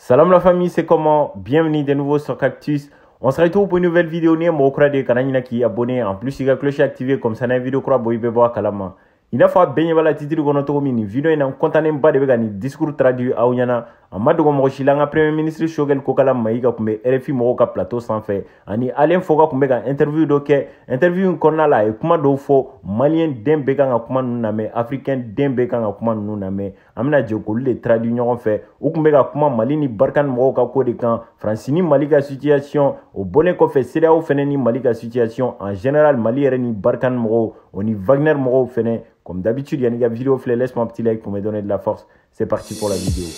Salam la famille, c'est comment Bienvenue de nouveau sur Cactus. On se retrouve pour une nouvelle vidéo. N'i ye mɔgɔ kura de kana ɲinɛ k'i abonner en plus i ka cloche activer comme ça n'an ye vidéo kura bɔ i bɛ bɔ a kalama. i n'a fɔ a bɛɛ ɲɛ b'a la titiri kɔnɔ cogo min nin video in na n kɔntannenba de bɛ ka nin discours traduit aw ɲɛna a ma dogo mɔgɔ si la an ka premier ministre shogɛl kokala mayiga tun bɛ rfi mɔgɔw ka plateau sanfɛ ani alain foka tun bɛ ka interview dɔ kɛ interview in kɔnɔna la a ye kuma dɔw fɔ malien den bɛɛ kan ka kuma ninnu lamɛn africain den bɛɛ kan ka kuma ninnu lamɛn an bɛna jɛ k'olu de traduit ɲɔgɔn fɛ u tun bɛ ka kuma mali ni barkhane mɔgɔw ka ko de kan faransi ni mali ka situation o bɔlen kɔfɛ cedeao fɛnɛ ni mali ka situation en général mali yɛrɛ ni barkhane mɔgɔw o ni wagner mɔgɔw fɛnɛ comme d'habitude yanni i ka video filɛ laisse moi petit like pour me donner de la force c'est parti pour la vidéo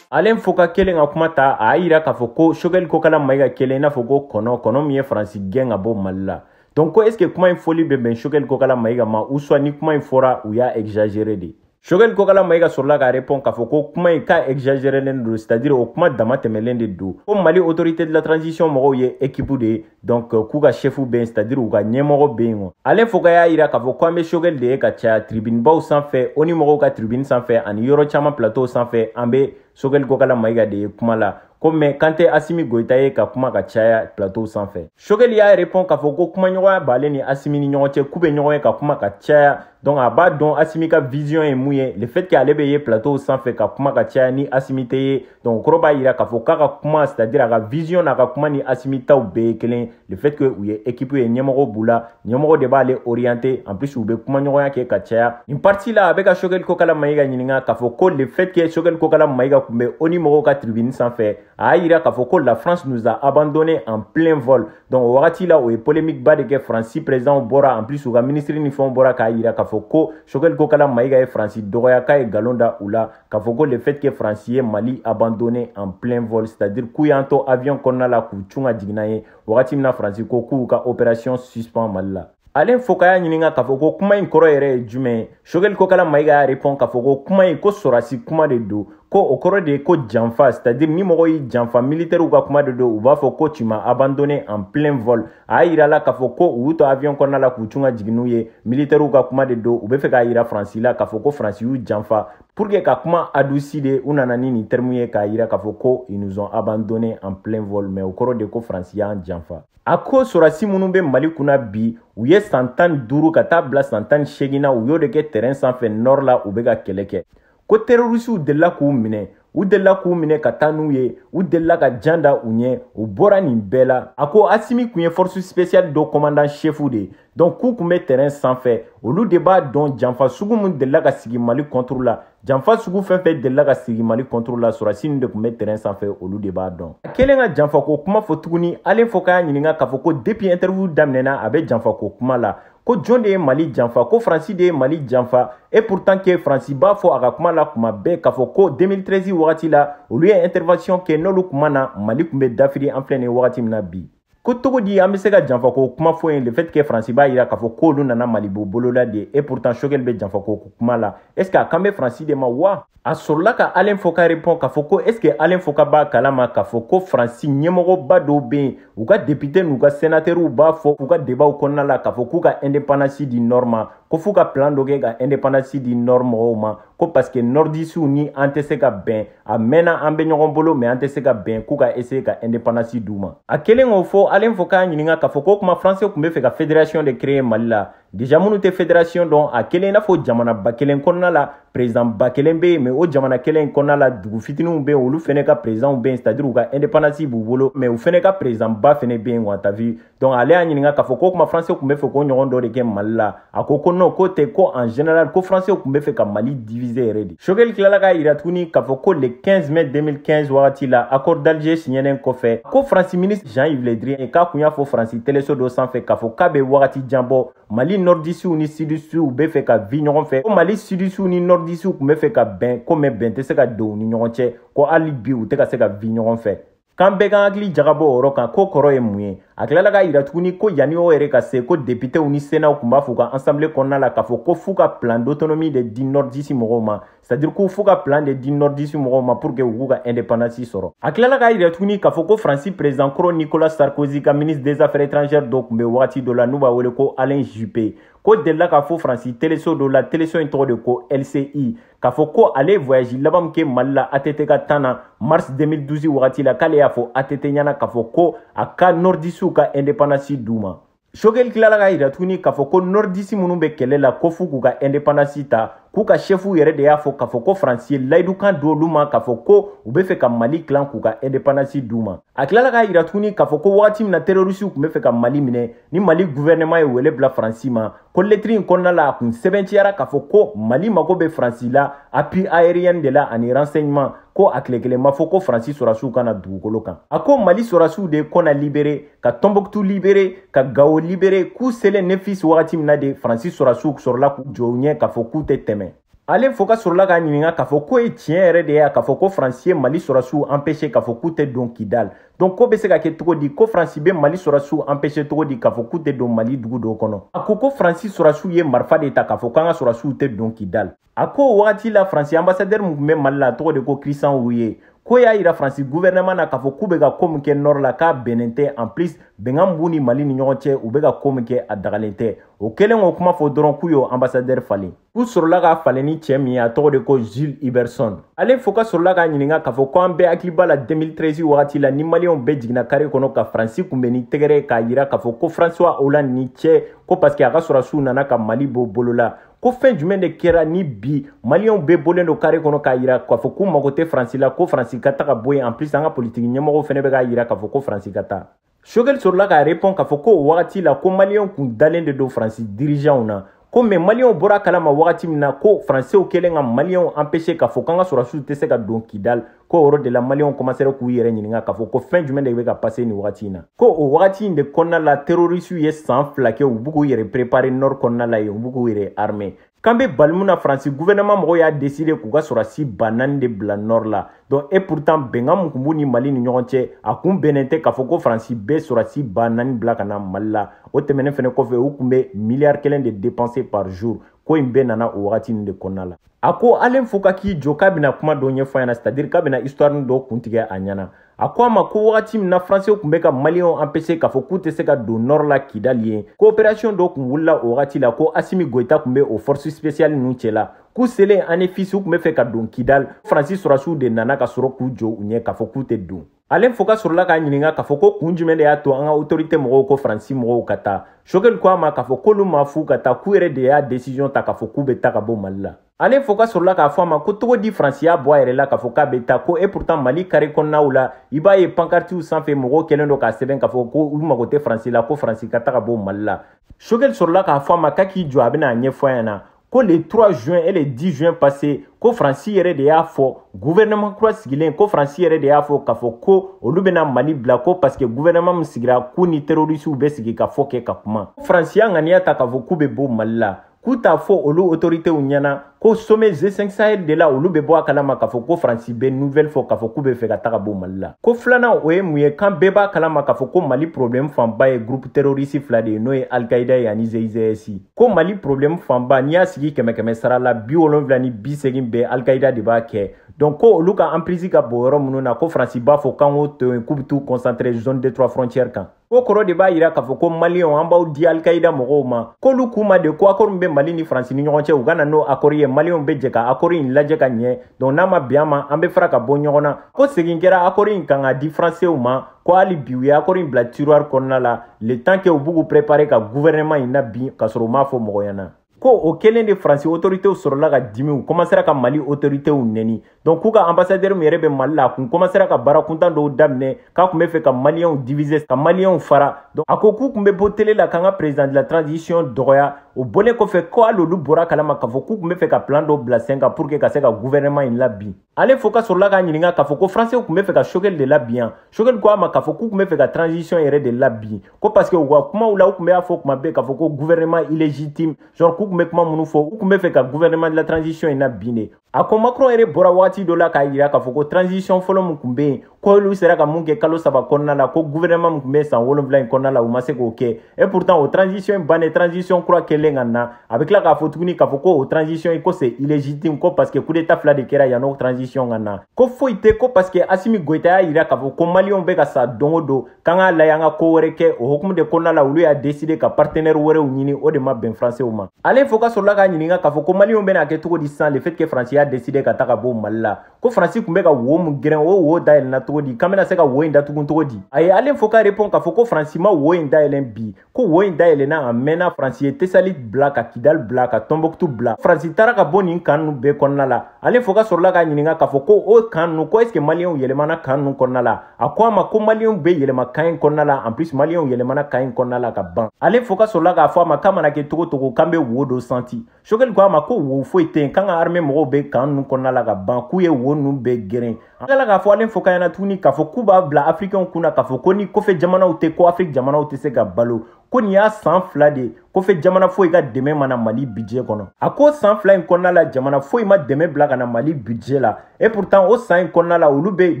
alain foka kɛlen ka kuma ta a y'a yira k'a fɔ ko shogɛli kokala mayiga kɛlen i n'a fɔ ko kɔnɔ kɔnɔ min ye faransi gɛn ka bɔ mali la donc ko est ce que kuma in fɔli bɛ bɛn shogɛli kokala mayiga ma ou soit ni kuma in fɔra u y'a exagéré de shogɛli kokala mayiga sɔrɔla k'a répond k'a fɔ ko kuma in k'a exagerelen don c'est à dire o kuma damatɛmɛlen de don ko mali autorité de la transition mɔgɔw ye équipe de ye donc euh, k'u ka chefu bɛ yen c'est à dire u ka ɲɛmɔgɔ bɛ yen alain foka y'a yira k'a fɔ ko an bɛ shogɛli de ye ka caya tribunebaw sanfɛ onu mɔgɔw ka tribune sanfɛ ani yɔrɔ caman plateau sanfɛ an bɛ sogɛli kokala mayiga de ye kuma la ko mais k'an tɛ asimi goyita ye ka kuma ka caya plateau sanfɛ sogɛli y'a répond k'a fɔ ko kumaɲɔgɔnya b'ale ni asimi ni ɲɔgɔn cɛ k'u bɛ ɲɔgɔn ye ka kuma ka caya donc a b'a dɔn asimi ka vision ye mun ye le fait que ale bɛ ye plateau sanfɛ ka kuma ka caya ni asimi tɛ ye donc o kɔrɔ b'a yira k'a fɔ k'a ka kuma c'est à dire a ka vision n'a ka kuma ni asimi taw bɛɛ ye kelen le fait que u ye équipe ye ɲɛmɔgɔ b'u la ɲɛmɔgɔ de b'ale orienter en plus u bɛ kumaɲɔgɔnya kɛ ka caya nin partie la a bɛ ka sogɛli kokala mayiga ɲininka k'a fɔ ko le fait que sogɛli kokala mayiga tun bɛ onu mɔgɔw ka tribune sanfɛ a y'a jira k'a fɔ ko la france nous a abandonné en plein vol donc o wagati la o ye polémique ba de kɛ faransi président bɔra en plus u ka ministre ni fɛnw bɔra k'a jira k'a fɔ ko sogɛli kokala mayiga ye faransi dɔgɔya k'a ye nkalon da u la k'a fɔ ko le fait que France ye Mali abandonné en plein vol c'est-à-dire k'u y'an to avion kɔnɔna la k'u cun ka jigin an ɲɛ wagati min na France ko k'u ka opération suspend Mali la Alain Foka y'a ɲininka k'a fɔ ko kuma in kɔrɔ yɛrɛ ye jumɛn ye sogɛli kokala mayiga y'a répond k'a fɔ ko kuma in ko sɔrɔdasi kuma de don ko o kɔrɔ de ye ko janfa c'est-à-dire ni mɔgɔ y'i janfa militɛriw ka kuma de don u b'a fɔ ko tu m'as abandonné en plein vol a yirala k'a fɔ ko u y'u to avion kɔnɔna la k'u cun ka jigin u ɲɛ militɛriw ka kuma de don u bɛ fɛ k'a yira faransi la k'a fɔ ko faransi y'u janfa pour que ka kuma adouci de u nana ni nin terme ye k'a yira k'a fɔ ko ils nous ont abandonné en plein vol mais o kɔrɔ de ko faransi y'an janfa a ko sɔrɔdasi minnu bɛ mali kunna bi u ye san tan ni duuru ka taa bila san tan ni seegin na u y'o de kɛ terrain sanfɛ nord la u bɛ ka kɛlɛ kɛ ko terorisiw delila k'u minɛ u delila k'u minɛ ka taa n'u ye u delila ka jan da u ɲɛ u bɔra nin bɛɛ la a ko asimi kun ye force spéciale dɔ commandant chefu de ye donc k'u kun bɛ terrain sanfɛ olu de b'a dɔn janfa sugu min delila ka sigi mali contre la janfa sugu fɛn fɛn delila ka sigi mali contre la sɔrasi ninnu de kun bɛ terrain sanfɛ olu de b'a dɔn a kɛlen ka janfako kuma fɔ tuguni alain foka ɲininka k'a fɔ ko depuis interview daminɛna a bɛ janfako kuma la ko jɔn de ye mali janfa ko faransi de ye mali janfa et pourtant que faransi b'a fɔ a ka kuma la kuma bɛɛ k'a fɔ ko 2013 wagati la olu ye intervention kɛ n'olu kun ma na mali tun bɛ dafiri an filɛ nin wagati min na bi ko cogo di an bɛ se ka janfa ko kuma fɔ yen le fait que faransi b'a yira k'a fɔ k'olu nana mali bɔ bolo la de et pourtant choguel bɛ janfa ko kuma la est ce que a kan bɛ faransi de ma wa a sɔrɔla ka alain foka repɔn k'a fɔ ko est ce que alain foka b'a kalama k'a fɔ ko faransi ɲɛmɔgɔba dɔw bɛ yen u ka depite n'u ka senatɛriw b'a fɔ u ka debaw kɔnɔna la k'a fɔ k'u ka indepandansi di nɔr ma ko f'u ka plan dɔ kɛ ka indepandansi di nɔr mɔgɔw ma ko parce que nɔrdisiw ni an tɛ se ka bɛn a mɛnna an bɛ ɲɔgɔn bolo mais an tɛ se ka bɛn k'u ka ese ka indepandansi d'u ma a kɛlen k'o fɔ alain foka ɲininka k'a fɔ k'o kuma faransi tun bɛ fɛ ka federasiyɔn de kreye mali la Déjà minnu tɛ fédération dɔn a kɛlen i n'a fɔ jamana ba kelen kɔnɔna la président ba kelen bɛ yen mais o jamana kelen kɔnɔna la dugu fitininw bɛ yen olu fana ka présidents bɛ yen c'est à dire u ka indépendance b'u bolo mais u fana ka président ba fana bɛ yen quoi t'as vu donc ale y'a ɲininka k'a fɔ k'o kuma français tun bɛ fɛ k'o ɲɔgɔn dɔ de kɛ mali la a ko ko non k'o tɛ ko en général ko français tun bɛ fɛ ka mali diviser yɛrɛ de Choguel tilala k'a yira tuguni k'a fɔ ko le 15 mai 2015 wagati la accord d'Alger signɛlen kɔfɛ ko Faransi ministre Jean-Yves Le Drian k'a kun y'a fɔ Faransi teleso dɔ sanfɛ k'a fɔ k'a bɛ wagati jan bɔ Mali nɔrdisiw ni sudisiw bɛ fɛ ka vi ɲɔgɔn fɛ ko Mali sudisiw ni nɔrdisiw tun bɛ fɛ ka bɛn ko mais bɛn tɛ se ka don u ni ɲɔgɔn cɛ ko hali bi u tɛ ka se ka vi ɲɔgɔn fɛ k'an bɛɛ k'an hakili jagabɔ o yɔrɔ kan k'o kɔrɔ ye mun ye a tilala k'a yira tuguni ko yanni o yɛrɛ ka se ko depitew ni senaw tun b'a fɔ u ka ansanbile kɔnɔna la k'a fɔ ko f'u ka plan d'autonomie de di nɔrdisi mɔgɔw ma c'est-à-dire ko f'u ka plan de di nɔrdisi mɔgɔw ma pour que u k'u ka indépendance sɔrɔ a tilala k'a yira tuguni k'a fɔ ko faransi président kɔrɔ nicolas sarkozy ka ministre des affaires étrangères dɔ tun bɛ wagati dɔ la n'u b'a wele ko alain juppé k'o delila k'a fɔ faransi teleso dɔ la teleso in tɔgɔ de ko lci k'a fɔ ko ale ye voyage laban min kɛ mali la att ka temps na mars 2012 wagati la k'ale y'a fɔ att ɲɛna k'a fɔ ko a ka nɔrdisiw ka indepandansi d'u ma choguel tilala k'a yira tuguni k'a fɔ ko nɔrdisi minnu bɛ kɛlɛ la ko f'u k'u ka indepandansi ta k'u ka shɛfuw yɛrɛ de y'a fɔ k'a fɔ ko faransi ye layidukan d'olu ma k'a fɔ ko u bɛ fɛ ka mali tilan k'u ka indepandansi d'u ma a tilala k'a yira tuguni k'a fɔ ko wagati min na terorisiw tun bɛ fɛ ka mali minɛ ni mali guvɛrɛnɛman ye wele bila faransi ma ko lɛtiri in kɔnɔna la a kun sɛbɛntiyara k'a fɔ ko mali mago bɛ faransi la appui aérien de la ani renseignement ko a tile kelen ma fɔ ko faransi sɔrasiw ka na dugukolo kan a ko mali sɔrasiw de ye konna libere ka tɔnbɔkutu libere ka gawo libere k'u selen anefis wagati min na de faransi sɔrasiw sɔrɔla k'u jɔ u ɲɛ k'a fɔ k'u tɛ tɛmɛ alain foka sɔrɔla k'a ɲininka k'a fɔ k'o ye tiɲɛ yɛrɛ de ye wa k'a fɔ ko faransi ye mali sɔrɔsiw anpese k'a fɔ k'u tɛ don kidal donc k'o bɛ se ka kɛ cogo di ko faransi bɛ mali sɔrɔsiw anpese cogo di k'a fɔ k'u tɛ don mali dugu dɔw kɔnɔ a ko ko faransi sɔrɔsiw ye marifa de ta k'a fɔ k'an ka sɔrɔsiw tɛ don kidal a ko o wagati la faransi anbasadɛri min tun bɛ mali la a tɔgɔ de ko christian rouyer ko y'a yira faransi guvɛrɛnɛman na k'a fɔ k'u bɛ ka ko min kɛ nɔr la k'a bɛnnen tɛ en plus bɛnkan b'u ni mali ni ɲɔgɔn cɛ u bɛ ka ko min kɛ a dagalen tɛ o kɛlen k'o kuma fɔ dɔrɔn k'u y'o anbasadɛri falen u sɔrɔla k'a falen ni cɛ min ye a tɔgɔ de ko gilles huberson alain foka sɔrɔla k'a ɲininka k'a fɔ ko an bɛɛ hakili b'a la 2013 wagati la ni maliyɛnw bɛɛ jiginna kare kɔnɔ ka faransi kunbɛn ni tɛgɛrɛ k'a yira k'a fɔ ko francois hollande ni ce ko parseke a ka sɔrɔsiw nana ka mali bɔ bolo la ko fɛn jumɛn de kɛra ni bi maliyɛnw bɛɛ bɔlen don kare kɔnɔ k'a yira k'a fɔ k'u mago tɛ faransi la ko faransi ka taga bɔ yen en plus an ka politiki ɲɛmɔgɔw fana bɛ k'a yira k'a fɔ ko faransi ka taa choguel sɔrɔla k'a repɔn k'a fɔ ko o wagati la ko maliyɛnw kun dalen de don faransi dirijanw na ko mɛ maliyɛnw bɔr'a kalama wagati min na ko faransɛw kɛlen ka maliyɛnw anpese k'a fɔ k'an ka sɔrɔsiw tɛ se ka don kidal ko o yɔrɔ de la maliyɛnw kɔmansera k'u yɛrɛ ɲininka k'a fɔ ko fɛn jumɛn de bɛ ka pase nin wagati in na ko o wagati in de kɔnɔna la terorisiw ye san fila kɛ u bɛ k'u yɛrɛ prepare nɔr kɔnɔna la yen u bɛ k'u yɛrɛ arme k'an bɛ balimu na faransi guvɛrɛnɛman mɔgɔw y'a deside k'u ka sɔrɔdasi ba naani de bila nɔr la donc et pourtant bɛnkan min kun b'u ni mali ni ɲɔgɔn cɛ a kun bɛnnen tɛ k'a fɔ ko faransi bɛ sɔrɔdasi ba naani bila ka na mali la o tɛmɛnen fɛnɛ kɔfɛ u kun bɛ miliyari kelen de dépense par jour ko nin bɛɛ nana o wagati nin de kɔnɔna la a ko alain foka k'i jɔ k'a bɛna kuma dɔ ɲɛfɔ a ɲɛna c'est à dire k'a bɛna histoire dɔ kuntigɛ a ɲɛna a ko a ma ko wagati min na faransɛw tun bɛ ka maliyɛnw anpese k'a fɔ k'u tɛ se ka don nɔrɔ la kidali yen ko operasiyɔn dɔ tun wulila o wagati la ko asimi goyita tun bɛ o fɔrisi sipesiyali ninnu cɛla k'u selen anefis u tun bɛ fɛ ka don kidali ko faransi sɔrasiw de nana ka sɔrɔ k'u jɔ u ɲɛ k'a fɔ k'u tɛ don alain foka sɔrɔla k'a ɲininka k'a fɔ ko kun jumɛn de y'a to an ka otorite mɔgɔw ko faransi mɔgɔw ka taa choguel ko a ma k'a fɔ k'olu m'a f'u ka taa k'u yɛrɛ de y'a desiziyɔn ta k'a fɔ k'u bɛ taa ka bɔ mali la alain foka sɔrɔla k'a fɔ a ma ko cogo di faransi y'a bɔ a yɛrɛ la k'a fɔ k'a bɛ taa ko et pourtant mali kare kɔnɔnaw la i b'a ye pankartiw sanfɛ mɔgɔw kɛlen don k'a sɛbɛn k'a fɔ ko u mago tɛ faransi la ko faransi ka taga bɔ mali la choguel sɔrɔla k'a fɔ a ma k'a k'i jɔ a bɛna a ɲɛfɔ a ɲɛna ko le 3 juin et le 10 juin passé ko faransi yɛrɛ de y'a fɔ gouvernement kura sigilen ko faransi yɛrɛ de y'a fɔ k'a fɔ ko olu bɛna mali bila ko parce que gouvernement min sigira k'u ni terrorisiw bɛ sigikafɔ kɛ ka kuma faransi y'a ŋaniya ta k'a fɔ k'u bɛ bɔ mali la k'u t'a fɔ olu autoritew ɲɛna ko sommet G5 Sahel de la olu bɛ bɔ a kalama k'a fɔ ko Faransi bɛ nouvelle fɔ k'a fɔ k'u bɛ fɛ ka taga bɔ Mali la ko filanan o ye mun ye k'an bɛɛ b'a kalama k'a fɔ ko Mali problème fanba ye groupe terroriste fila de ye n'o ye Al-Qaïda ye ani EIGS ko Mali problème fanba n'i y'a sigi kɛmɛ kɛmɛ sara la bi wolonwula ni bi segin bɛɛ Al-Qaïda de b'a kɛ donc ko olu ka emprise ka bon yɔrɔ minnu na ko Faransi b'a fɔ k'an k'o to yen k'u bɛ t'u concentrer zone des trois frontières kan o kɔrɔ de b'a yira k'a fɔ ko maliyɛnw an b'aw di alikaida mɔgɔw ma k'olu k'u ma de ko akɔri min bɛ mali ni faransi ni ɲɔgɔn cɛ u ka na n'o akɔri ye maliyɛnw bɛ jɛ ka akɔri in lajɛ ka ɲɛ donc n'a ma bɛn an ma an bɛ fara ka bɔ ɲɔgɔn na ko segin kɛra akɔri in kan k'a di faransew ma ko hali bi u ye akɔri in bila tiroir kɔnɔna la le temps que u bɛ k'u préparer ka gouvernement in nabin ka sɔrɔ u m'a fɔ mɔgɔ ɲɛna ko o kelen de faransi otoritew sɔrɔla ka dimi u kɔmasera ka mali otoritew nɛni donc k'u ka anbasadɛri min yɛrɛ bɛ mali la a kun kɔmasera ka baara kuntan dɔw daminɛ k'a kun bɛ fɛ ka maliyɛnw divise ka maliyɛnw fara donc a ko k'u kun bɛ bɔ tele la k'an ka président de la transition dɔgɔya o bɔlen kɔfɛ ko hali olu bɔra a kalama k'a fɔ k'u kun bɛ fɛ ka plan dɔw bila sen kan pour que ka se ka gouvernement in labin alain foka sɔrɔla k'a ɲininka k'a fɔ ko faransɛw tun bɛ fɛ ka choguel de labin yan choguel ko a ma k'a fɔ k'u tun bɛ fɛ ka transition yɛrɛ de labin ko parce que u ka kumaw la u tun b'a fɔ kuma bɛɛ k'a fɔ ko gouvernement illégitime genre k'u tun bɛ kuma minnu fɔ u tun bɛ fɛ ka gouvernement de la transition in nabin de a ko macron yɛrɛ bɔra wagati dɔ la k'a yira k'a fɔ ko transition fɔlɔ min tun bɛ yen k'olu sera ka mun kɛ kalo saba kɔnɔna la ko gouvernement min tun bɛ san wolonwula in kɔnɔna la u ma se k'o kɛ et pourtant o transition in bannen transition kura kɛlen ka na a bɛ tila k'a fɔ tuguni k'a fɔ ko o transition in ko c'est illégitime ko parce que coup d'état fila de kɛra yanni o transition ka na ko foyi tɛ ko parce que Asimi Goyita y'a yira k'a fɔ ko maliyɛnw bɛ ka sa don o don k'an k'a lajɛ an ka ko wɛrɛ kɛ o hukumu de kɔnɔna la olu y'a décider ka partenaire wɛrɛw ɲini o de ma bɛn françaisw ma Alain Foka sɔrɔla k'a ɲininka k'a fɔ ko maliyɛnw bɛna a kɛ cogo di sisan le fait que France y'a décider ka taa ka bɔ Mali la ko faransi tun bɛ ka wo min geren o wo dayɛlɛnna cogo di k'an bɛna se ka wo in datugun cogo di a ye alain foka repɔn k'a fɔ ko faransi ma wo in dayɛlɛn bi ko wo in dayɛlɛnna a mɛnna faransi ye tesali bila ka kidali bila ka tɔnbɔkutu bila faransi taara ka bɔ nin kan ninnu bɛɛ kɔnɔna la alain foka sɔrɔla k'a ɲininka k'a fɔ ko o kan ninnu ko ɛseke maliyɛnw yɛlɛmana kan ninnu kɔnɔna la a ko a ma ko maliyɛnw bɛ yɛlɛma kan in kɔnɔna la en plus maliyɛnw yɛlɛmana kan in kɔnɔna la ka ban alain foka sɔrɔla k'a fɔ a ma k'a mana kɛ cogo o cogo k'an bɛ wo dɔ santi choguel ko a ma ko wo foyi tɛ yen k'an ka armée mɔgɔw bɛ kan ninnu kɔnɔna la ka ban k'u ye wo ninnu bɛɛ geren a tilala k'a fɔ alain foka ɲɛna tuguni k'a fɔ k'u b'a bila africainw kun na k'a fɔ ko ni kɔfɛ jamanaw tɛ ko afrique jamanaw tɛ se ka balo ko nin y'a san fila de ye kɔfɛ jamana foyi ka dɛmɛ ma na mali budget kɔnɔ a ko san fila in kɔnɔna la jamana foyi ma dɛmɛ bila ka na mali budget la et pourtant o san in kɔnɔna la olu bɛ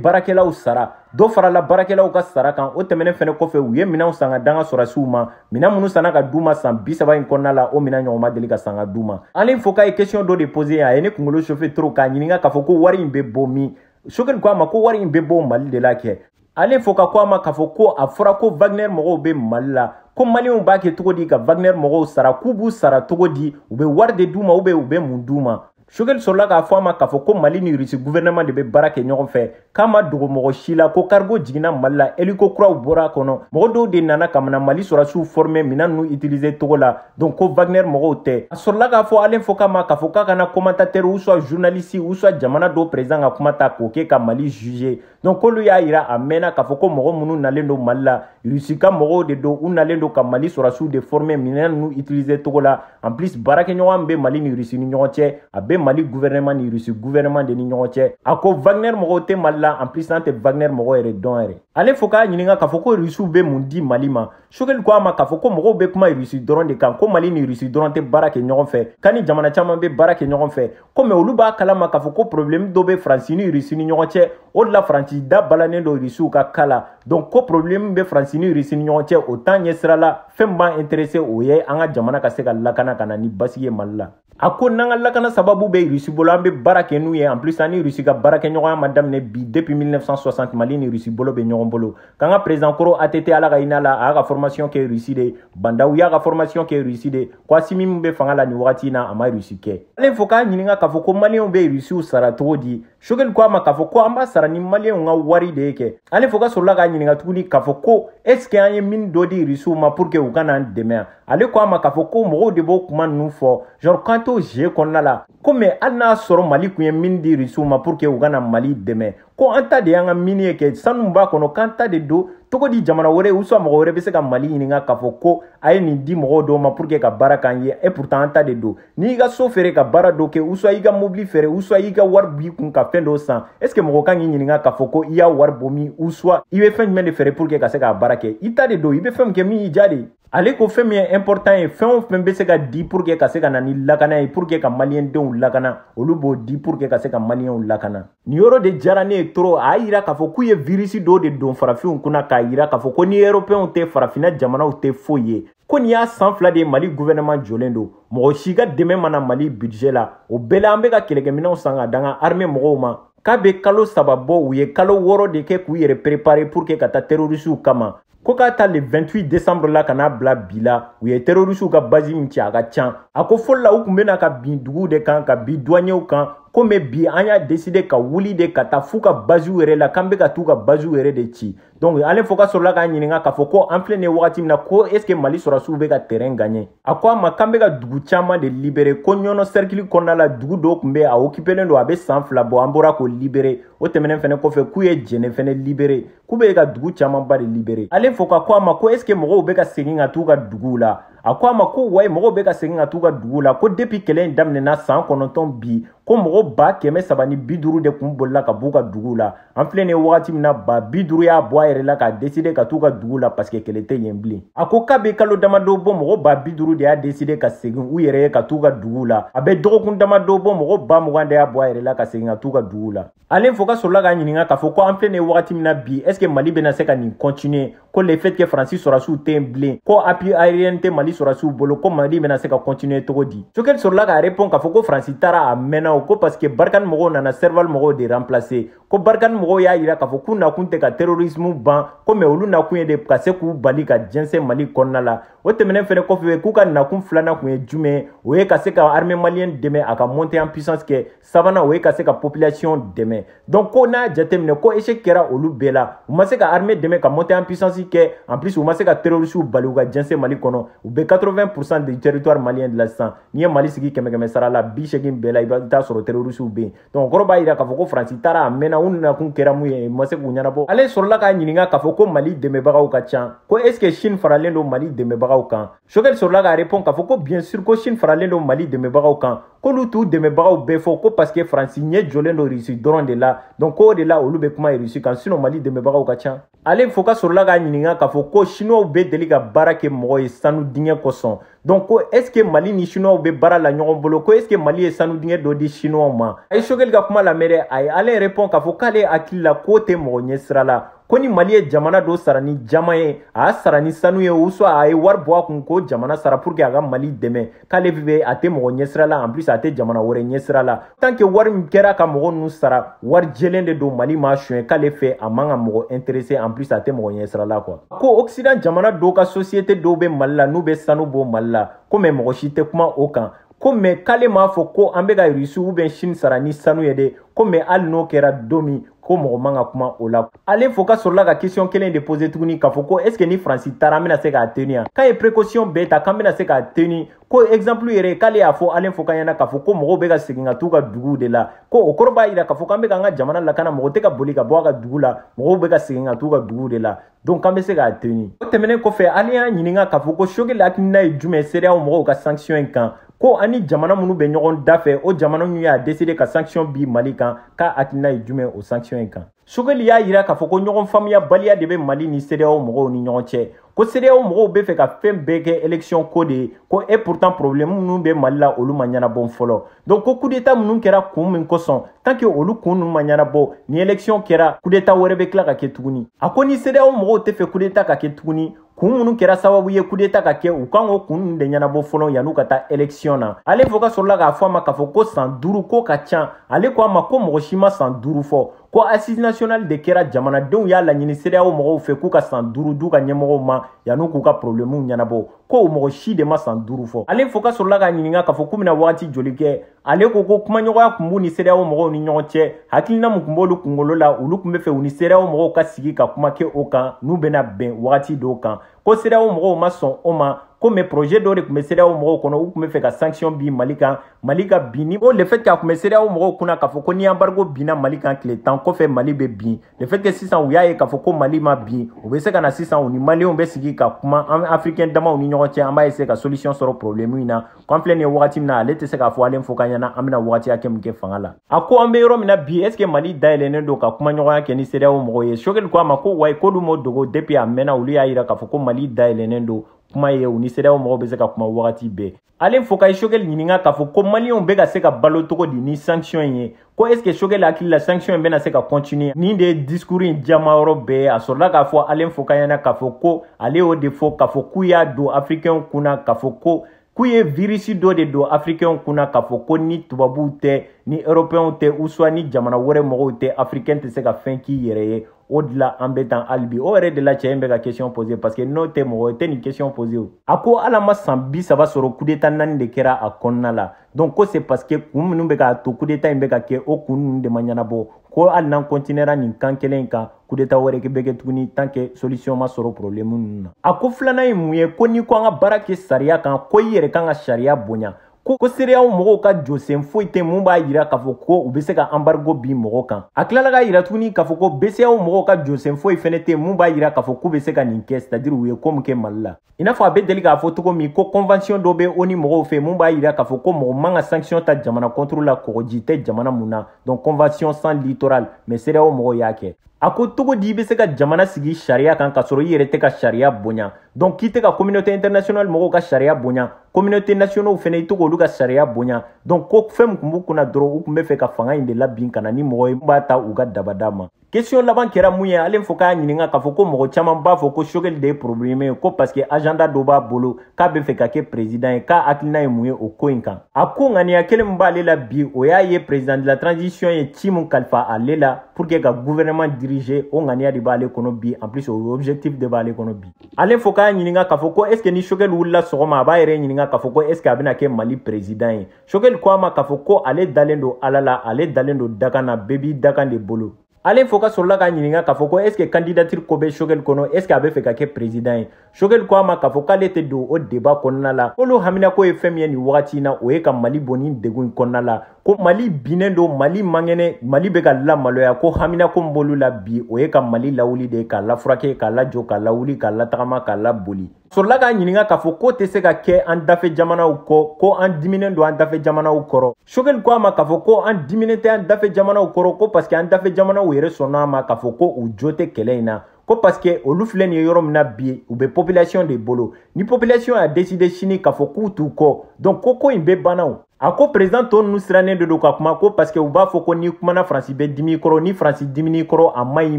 baarakɛlaw sara dɔ farala baarakɛlaw ka sara kan o tɛmɛnen fɛnɛ kɔfɛ u ye minɛnw san ka d'an ka sɔrasiw ma minɛn minnu sanna ka d'u ma san bi saba in kɔnɔna la o minɛn ɲɔgɔn ma deli ka san ka d'u ma alain foka ye kesiyɔn dɔ de pose a ye ne kunkolo chauffer trop k'a ɲininka k'a fɔ ko wari in be bɔ min choguel ko a ma ko wari in be bɔ mali de la kɛ alain foka ko a ma k'a fɔ ko a fɔra ko wagner mɔgɔw be mali la ko maliyɛnw b'a kɛ cogo di ka wagner mɔgɔw sara k'u b'u sara cogo di u be wari de d'u ma u be u be mun d'u ma Choguel sɔrɔla k'a fɔ a ma k'a fɔ ko Mali ni Russie gouvernement de bɛ baara kɛ ɲɔgɔn fɛ k'a ma dogo mɔgɔ si la ko cargo jiginna Mali la hélico kuraw bɔra a kɔnɔ mɔgɔ dɔw de nana ka na Mali sɔrasiw former minɛn ninnu utiliser togo la donc ko Wagner mɔgɔw tɛ a sɔrɔla k'a fɔ Alain Foka ma k'a fɔ k'a kana commentateur ou soit journaliste ou soit jamana dɔw président ka kuma ta k'o kɛ ka Mali juger donc k'olu y'a yira a mɛnna k'a fɔ ko mɔgɔ minnu nalen don mali la rusi ka mɔgɔw de don u nalen don ka mali sɔrɔdasiw de former minɛn ninnu utiliser cogo la en plus baarakɛɲɔgɔnya min bɛ mali ni rusi ni ɲɔgɔn cɛ a bɛ mali gouvernement ni rusi gouvernement de ni ɲɔgɔn cɛ a ko wagner mɔgɔw tɛ mali la en plus an tɛ wagner mɔgɔ yɛrɛ dɔn yɛrɛ ale fo k'a ɲininka k'a fɔ ko rusiw bɛ mun di mali ma choguel ko a ma k'a fɔ ko mɔgɔw bɛ kuma rusi dɔrɔn de kan ko mali ni rusi dɔrɔn tɛ baara kɛ ɲɔgɔn fɛ k'a ni jamana caman bɛ baara kɛ ɲɔgɔn fɛ komi olu b'a kalama k'a fɔ ko problème dɔ bɛ faransi ni rusi ni ɲɔgɔn cɛ o de la faransi da balannen don rusiw ka ko la donc ko problème bɛ faransi ni rusi ni ɲɔgɔn cɛ o t'an ɲɛ sira la fɛn min b'an intéressé o ye an ka jamana ka se ka lakana ka na ni basigi ye mali la a ko n'an ka lakana sababu bɛ rusi bolo an bɛ baara kɛ n'u ye en plus an ni rusi ka baarakɛɲɔgɔnya ma daminɛ bi depuis 1960 mali ni rusi bolo bɛ ɲɔgɔn bolo k'an ka président kɔrɔ att ala ka hinɛ a la a y'a ka formation kɛ russie de ba ndaw y'a ka formation kɛ russie de k'assimi min bɛ fanga la nin wagati in na a ma russie kɛ ale fo k'a ɲininka k'a fɔ ko maliyɛnw bɛ rusiw sara cogo di choguel ko a ma k'a fɔ ko an b'a sara ni maliyɛnw ka wari de ye kɛ ale fo ka sɔrɔla k'a ɲininka tuguni k'a fɔ ko est ce que an ye mine dɔ di rusiw ma pour que u ka n'an dɛmɛ yan ale ko a ma k'a fɔ ko mɔgɔw de b'o kuma ninnu fɔ genre k'an t'o jeu kɔnɔna la ko mɛ hali n'a sɔrɔ mali tun ye mine di rusiw ma pour que u ka na mali dɛmɛ ko an ta de y'an ka mini ye kɛ sanu b'a kɔnɔ k'an ta de don cogo di jamana wɛrɛ uswa mɔgɔ wɛrɛ bɛ se ka mali ɲininka k'a fɔ ko a ye nin di mɔgɔ dɔ ma pour que ka baara k'an ye et pourtant an ta de don n'i ka so feere ka baara dɔ kɛ uswa i ka mobili feere uswa i ka wari b'i kun ka fɛn dɔw san est ce que mɔgɔ kan k'i ɲininka k'a fɔ ko i y'a wari bɔ min uswa i bɛ fɛn jumɛn de feere pour que ka se k'a baara kɛ i ta de don i bɛ fɛn min kɛ min y'i diya de ye ale ko fɛn min ye important ye fɛn o fɛn bɛ se ka di pour que ka se ka na ni lakana ye pour que ka maliyɛndenw lakana olu b'o di pour que ka se ka maliyɛnw lakana nin yɔrɔ de diyara ne ye trop a y'a yira k'a fɔ k'u ye virisi dɔw de don farafinw kunna k'a yira k'a fɔ ko ni europɛnw tɛ farafinna jamanaw tɛ foyi ye ko nin y'a san fila de ye mali guvɛnɛman jɔlen don mɔgɔ si ka dɛmɛ ma na mali bidijɛ la o bɛɛ la an bɛ ka kɛlɛkɛminɛw san ka d'an ka arme mɔgɔw ma k'a bɛ kalo saba bɔ u ye kalo wɔɔrɔ de kɛ k'u yɛrɛ perepare pour que ka taa terorisiw kama ko k'a ta le 28 décembre la ka n'a bila bi la u ye terorisiw ka bazi min ci a ka can a ko fɔlɔ la u tun bɛ na ka bin duguw de kan ka bin duwanyew kan ko mɛ bi an y'a deside ka wuli de ka taa f'u ka baziw yɛrɛ la k'an bɛ ka t'u ka baziw yɛrɛ de ci donc ale fo ka sɔrɔla k'a ɲininka k'a fɔ ko an filɛ nin ye wagati min na ko est ce que mali sɔrɔdasiw bɛ ka terrain gagner a ko a ma k'an bɛ ka dugu caman de libere ko ɲɔnɔ sɛrikili kɔnɔna la dugu dɔ tun bɛ a okipelen don a bɛ san fila bɔ an bɔra k'o libere o tɛmɛnen fɛnɛ kɔfɛ k'u ye jɛnɛ fɛnɛ libere k'u bɛ ka dugu camanba de libere ale fo ka ko a ma ko est ce que mɔgɔw bɛ ka segin ka t'u ka duguw la a ko a ma ko wayi mɔgɔw bɛ ka segin ka t'u ka duguw la ko depi kɛlɛ in daminɛna san kɔnɔntɔn bi ko mɔgɔ ba kɛmɛ saba ni bi duuru de kun bolila ka b'u ka duguw la an filɛ nin ye wagati min na ba bi duuru y'a bɔ a yɛrɛ la k'a deside ka t'u ka duguw la paseke kɛlɛ tɛ yen bilen a ko k'a bɛ kalo damadɔ bɔ mɔgɔ ba bi duuru de y'a deside ka segin u yɛrɛ ye ka t'u ka duguw la a bɛ dɔgɔkun damadɔ bɔ mɔgɔ ba mugan de y'a bɔ a yɛrɛ la ka segin ka t'u ka duguw la alain foka sɔrɔla k'a ɲininka k'a fɔ ko an filɛ nin ye wagati min na bi est ce que mali bɛna se ka nin continuer ko le fait que faransi sɔrɔdasiw tɛ yen bilen ko appui aérien tɛ mali sɔrɔdasiw bolo ko mali bɛna se ka continuer cogo di sogɛli sɔrɔla k'a répond k'a fɔ ko faransi taara a mɛnna o ko parce que barikani mɔgɔw nana serval mɔgɔw de remplacer ko barikani mɔgɔw y'a yira k'a fɔ k'u nakun tɛ ka terrorisme ban ko mais olu nakun ye de ka se k'u bali ka jɛnsɛn mali kɔnɔna la o tɛmɛnen fɛnɛ kɔfɛ k'u ka nakun filanan kun ye jumɛn o ye ka se ka armée malienne dɛmɛ a ka monter en puissance kɛ sabanan o ye ka se ka population dɛmɛ donc ko n'a jateminɛ ko échec kɛra olu bɛɛ la u ma se ka armée dɛmɛ ka monter en puissance kɛ en plus u ma se ka terrorisiw bali u ka jɛnsɛn mali kɔnɔ u bɛ 80 pourcent du territoire malien de la sisan n'i ye mali sigi kɛmɛ kɛmɛsara la biseegin bɛɛ la i bɛ taa sɔrɔ terrorisiw bɛ yen donc o kɔrɔ b'a jira k'a fɔ ko faransi taara a mɛnna u nakun kɛra mun ye u ma se k'u ɲɛnabɔ alain sɔrɔla k'a ɲininka k'a fɔ ko mali dɛmɛbagaw ka ca ko est ce que chine faralen don mali dɛmɛbagaw kan sogɛli sɔrɔla k'a repɔn k'a fɔ ko bien sûr ko chine faralen don mali dɛmɛbagaw kan k'olu t'u dɛmɛbagaw bɛɛ fɔ ko paske faransi ɲɛ jɔlen don rusi dɔrɔn de la donc k'o de la olu bɛ kuma rusi kan sinon mali dɛmɛbagaw ka ca alain foka sɔrɔla k'a ɲininka k'a fɔ ko chinow bɛ deli ka baara kɛ mɔgɔ ye sanu dingɛ kosɔn donc ko est ce que mali ni chinow bɛ baara la ɲɔgɔn bolo ko est ce que mali ye sanu dingɛ dɔ di chinow ma a ye sogɛli ka kuma lamɛn dɛ a ye alain repɔn k'a fɔ k'ale hakili la k'o tɛ mɔgɔ ɲɛ sira la ko ni mali ye jamana dɔ sara ni jaman ye a y'a sara ni sanu ye ou soit a ye wari bɔ a kun k'o jamana sara pour que a ka mali dɛmɛ k'ale fɛ a tɛ mɔgɔ ɲɛsira la en plus a tɛ jamana wɛrɛ ɲɛsira la tant que wari min kɛra ka mɔgɔ nunu sara wari jɛlen de don mali m'a suɲɛ k'ale fɛ a man ka mɔgɔ intéresser en plus a tɛ mɔgɔ ɲɛsira la quoi ko occident jamana dɔ ka société dɔw be mali la n'u be sanu bɔ mali la ko mais mɔgɔ si tɛ kuma o kan ko mais k'ale m'a fɔ ko an bɛ ka irisi ou bien chine sara ni sanu ye dɛ ko mais hali n'o kɛra don min ko mɔgɔ man ka kuma o la alain foka sɔrɔla ka question kelen de pose tuguni k'a fɔ ko est ce que ni faransi taara an bɛna se ka teni yan k'an ye précaution bɛɛ ta k'an bɛna se ka teni ko exemple yɛrɛ k'ale y'a fɔ alain foka ɲɛna k'a fɔ ko mɔgɔw bɛ ka segin ka t'u ka duguw de la ko o kɔrɔ b'a yira k'a fɔ k'an bɛ k'an ka jamana lakana mɔgɔ tɛ ka boli ka bɔ a ka dugu la mɔgɔw bɛ ka segin ka t'u ka duguw de la donc an bɛ se ka teni o tɛmɛnen kɔfɛ alain y'a ɲininka k'a fɔ ko sogeli hakilina ye jumɛn sedeyaw mɔgɔw ka sanction in kan ko ani jamana minnu bɛ ɲɔgɔn da fɛ o jamana ninnu y'a deside ka sanction bin mali kan k'a hakilina ye jumɛn o sanction in kan sogeli y'a jira k'a fɔ ko ɲɔgɔn faamuyabaliya de bɛ mali ni sedeyaw mɔgɔw ni ɲɔgɔn cɛ ko sedeyaw mɔgɔw bɛ fɛ ka fɛn bɛɛ kɛ election ko de ye ko et pourtant problème minnu bɛ mali la olu ma ɲɛnabɔn fɔlɔ donc ko kudeta minnu kɛra kun min kosɔn tant que olu kun ninnu ma ɲɛnabɔ ni eleksiyɔn kɛra kudeta wɛrɛ bɛ tila ka kɛ tuguni a ko ni sedeyaw mɔgɔw tɛ fɛ kudeta ka kɛ tuguni kun minnu kɛra sababu ye kudeta ka kɛ u kan k'o kun ninnu de ɲɛnabɔ fɔlɔ yan'u ka taa eleksiyɔn na alain foka sɔrɔla k'a fɔ a ma k'a fɔ ko san duuru k'o ka can ale ko a ma ko mɔgɔ si ma san duuru fɔ ko assises nationales de kɛra jamanadenw y'a laɲini sedeyaw mɔgɔw fɛ k'u ka san duuru d'u ka ɲɛmɔgɔw ma yan'u k'u ka porobilɛmuw ɲɛnabɔ ko mɔgɔ si de ma san duuru fɔ alain foka sɔrɔla k'a ɲininka k'a fɔ k'u bɛna wagati joli kɛ ale ko ko kumaɲɔgɔnya kun b'u ni cedeao mɔgɔw ni ɲɔgɔn cɛ hakilina min kun b'olu kungolo la olu kun bɛ fɛ u ni cedeao mɔgɔw ka sigi ka kuma kɛ o kan n'u bɛna bɛn wagati dɔ kan ko cedeao mɔgɔw ma sɔn o ma ko mais projet dɔ de tun bɛ cedeao mɔgɔw kɔnɔ u tun bɛ fɛ ka sanction bin mali kan mali ka bin ni o le fait que a tun bɛ cedeao mɔgɔw kunna k'a fɔ ko ni embargo binna mali kan tile tan kɔfɛ mali bɛ bin le fait que sisan u y'a ye k'a fɔ ko mali ma bin u bɛ se ka na sisan u ni maliyɛnw bɛ sigi ka kuma an africain damaw ni ɲɔgɔn cɛ an b'a essayer ka solution sɔrɔ problème in na ko an filɛ nin ye wagati min na ale tɛ se k'a fɔ alain foka ɲɛna an bɛna wagati hakɛ min kɛ fanga la a ko an bɛ yɔrɔ min na bi est ce que mali dayɛlɛnnen don ka kuma ɲɔgɔnya kɛ ni cedeao mɔgɔw ye sogɛli ko a ma ko oui k'olu m'o dogo depuis a mɛnna olu y'a yira k'a fɔ ko mali dayɛlɛnnen don kuma ye u ni cedeao mɔgɔw bɛ se ka kuma wagati bɛɛ alain foka ye sogɛli ɲininka k'a fɔ ko maliyɛnw bɛ ka se ka balo cogo di ni sanction in ye ko est ce que sogɛli hakili la sanction in bɛna se ka continuer nin de ye discours in jama yɔrɔ bɛɛ ye a sɔrɔla k'a fɔ alain foka ɲɛna k'a fɔ ko ale y'o de fɔ k'a fɔ k'u y'a don africainw kun na k'a fɔ ko k'u ye virisi dɔ de don africainw kun na k'a fɔ ko ni tubabuw tɛ ni européenw tɛ ou soit ni jamana wɛrɛ mɔgɔw tɛ africain tɛ se ka fɛn k'i yɛrɛ ye o de la an bɛ tan hali bi o yɛrɛ de la cɛ in bɛ ka question poser parce que n'o tɛ mɔgɔ tɛ nin question poser o a ko hali a ma san bi saba sɔrɔ kudeta naani de kɛra a kɔnɔna la donc ko c'est parce que kun minnu bɛ k'a to kudeta in bɛ ka kɛ o kun ninnu de ma ɲɛnabɔ ko hali n'an continuera nin kan kelen kan kudeta wɛrɛ bɛ kɛ tuguni tant que solution ma sɔrɔ problème ninnu na a ko filanan ye mun ye ko n'i ko an ka baara kɛ sariya kan ko i yɛrɛ kan ka sariya bonya ko ko cedeao mɔgɔw ka jɔsen foyi tɛ mun b'a yira k'a fɔ ko u bɛ se ka anbarigo bin mɔgɔ kan a tilala k'a yira tuguni k'a fɔ ko bceao mɔgɔw ka jɔsen foyi fɛnɛ tɛ mun b'a yira k'a fɔ k'u bɛ se ka nin kɛ c'est à dire u ye ko min kɛ mali la i n'a fɔ a bɛ deli k'a fɔ cogo min ko kɔnvansiyɔn dɔ bɛ onu mɔgɔw fɛ mun b'a yira k'a fɔ ko mɔgɔ man ka sankisiyɔn ta jamana kɔntoro la kɔgɔji tɛ jamana mun na donc kɔnvansiyɔn sans littoral mais cedeao mɔgɔw y'a kɛ a ko cogo di i bɛ se ka jamana sigi sariya kan k'a sɔrɔ i yɛrɛ tɛ ka sariya bonya donc k'i tɛ ka communauté internationale mɔgɔw ka sariya bonya communauté nationaux fana i tɛ k'olu ka sariya bonya donc ko fɛn min tun b'u kunna dɔrɔn u tun bɛ fɛ ka fanga in de labin ka na ni mɔgɔ ye b'a ta u ka dabada ma question laban kɛra mun ye alain foka y'a ɲininka k'a fɔ ko mɔgɔ caman b'a fɔ ko sogɛli de ye problème ye ko parce que agenda dɔ b'a bolo k'a bɛ fɛ ka kɛ président ye k'a hakilina ye mun ye o ko in kan a ko ŋaniya kelen min b'ale la bi o y'a ye président de la transition ye ci min kalifa ale la pour que ka gouvernement diriger o ŋaniya de b'ale kɔnɔ bi en plus o objectif de b'ale kɔnɔ bi alain foka y'a ɲininka k'a fɔ ko est ce que ni sogɛli wulila sɔgɔma a b'a yɛrɛ ɲininka k'a fɔ ko est ce que a bɛna kɛ mali président ye sogɛli ko a ma k'a fɔ ko ale dalen don ala la ale dalen don dakan na bɛɛ b'i dakan de bolo alain foka sɔrɔla k'a ɲininka k'a fɔ ko est ce que candidature ko bɛ sogɛli kɔnɔ est ce que a bɛ fɛ ka kɛ président ye Shogel ko a ma k'a fɔ k'ale tɛ don o débat kɔnɔna la k'olu haminako ye fɛn min ye nin wagati in na o ye ka mali bɔ nin degun in kɔnɔna la ko mali binnen don mali man kɛnɛ mali bɛ ka lamaloya ko haminako min b'olu la bi o ye ka mali lawuli de k'a lafurake k'a lajɔ k'a lawuli k'a latagama k'a laboli sɔrɔla k'a ɲininka k'a fɔ k'o tɛ se ka kɛ an dafɛ jamanaw kɔ ko an diminen don an dafɛ jamanaw kɔrɔ shogel ko a ma k'a fɔ ko an diminen tɛ an dafɛ jamanaw kɔrɔ ko parce que an dafɛ jamanaw yɛrɛ sɔnna a ma k'a fɔ ko u jo tɛ kɛlɛ in na ko parce que olu filɛ nin ye yɔrɔ min na bi u bɛ population de bolo ni population y'a décider sini k'a fɔ k'u t'u kɔ donc ko ko in bɛɛ banna o a ko président tɔ ninnu sirannen de don ka kuma ko parce que u b'a fɔ ko n'i kumana faransi bɛ dimi i kɔrɔ ni faransi dimin'i kɔrɔ a man ɲi i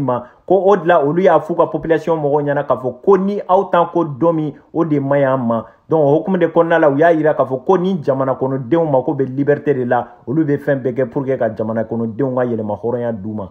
ma ko o de la olu y'a f'u ka population mɔgɔw ɲɛna k'a fɔ ko ni aw t'an kɔ don min o de man ɲi an ma donc o hukumu de kɔnɔna la u y'a yira k'a fɔ ko ni jamana kɔnɔdenw mako bɛ liberté de la olu bɛ fɛn bɛɛ kɛ pour que ka jamana kɔnɔdenw ka yɛrɛmahɔrɔnya d'u ma